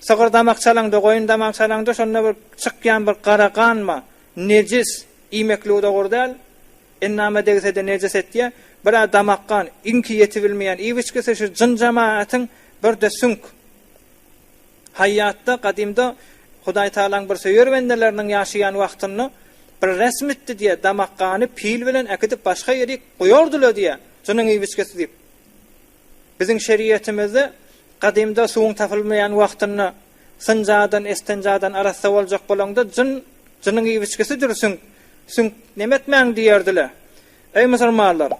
Sygyr damak çalaňda, goýun damak çalaňda şonda bir çykýan bir gara ganma, nejis, iýmeklige dogry däl. Endama degse-de nejis etýär. Bir-ä damak gan, iňki ýetibilmeýän iýip-içgisi şu jyn-jemagatyň bir-de süňk. Haýýatda, gadymda Hudaý Tagalaň bir söýer bendeleriniň ýaşaýan wagtynda bir resmitdi diýýär, damak gany pil bilen äkidip başga ýerik goýardylar diýýär, jynyň iýip-içgisi diýip. Biziň şeriýetimizde gadymda suwuň tapylmaýan wagtynda synjadan, estenjadan arassa boljak bolaňda jyn, jynyň iwiçgisidir süňk, süňk nemetmäň diýerdiler. Eý musulmanlar,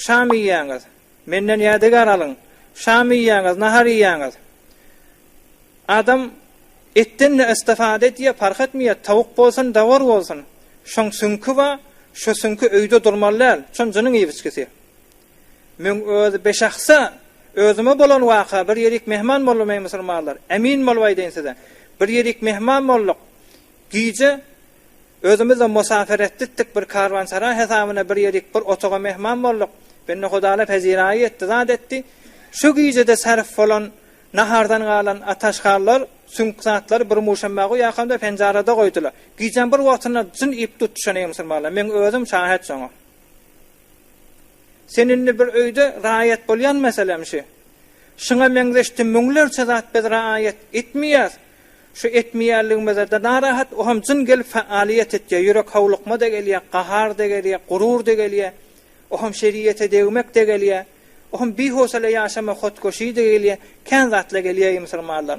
şam iýýäňiz, menden ýadygär alyň, şam iýýäňiz, nahar iýýäňiz. Adam etden-de istifada edýär, parh etmeýär, tawuk bolsun, dawar bolsun. Şoň süňki bar, şo süňki öýde durmaly däl, şon jynyň iwiçgisi. Müň özi beş aksa, özüme bolan waka, bir ýerik mehman boldum eý musulmanlar, emin bolup aýdaýyn size, bir ýerik mehman bolduk, gije özümizde musafir etditdik, bir karwansara hesabyna bir ýerik bir otaga mehman bolduk, bendehudalar peziraýy etdi, zat etdi, şu gijede sarf bolan nahardan galan ataşkallar, süňk zatlary bir muşamba guýakamda penjarada goýdular, gijeň bir wagtynda jyn iýip tutuşan eý musulmanlar, müň özüm şahet şoňa. Sen indi bir öýde raýat bolýan meselem şü. Şuňa meňzeşdi müňlerçe zat biz raýat etmeýäs. Şu etmeýänligimizede narahat oham jyn gelip faaliýet etýä, ýürek howlukma-da gelýä, gahar-da gelýä, gurur-da gelýä, oham şeriýete degmek-de gelýä, oham bihowsala ýaşama hotgoşy-da gelýä, kän zatla gelýä ýmsyrmalar.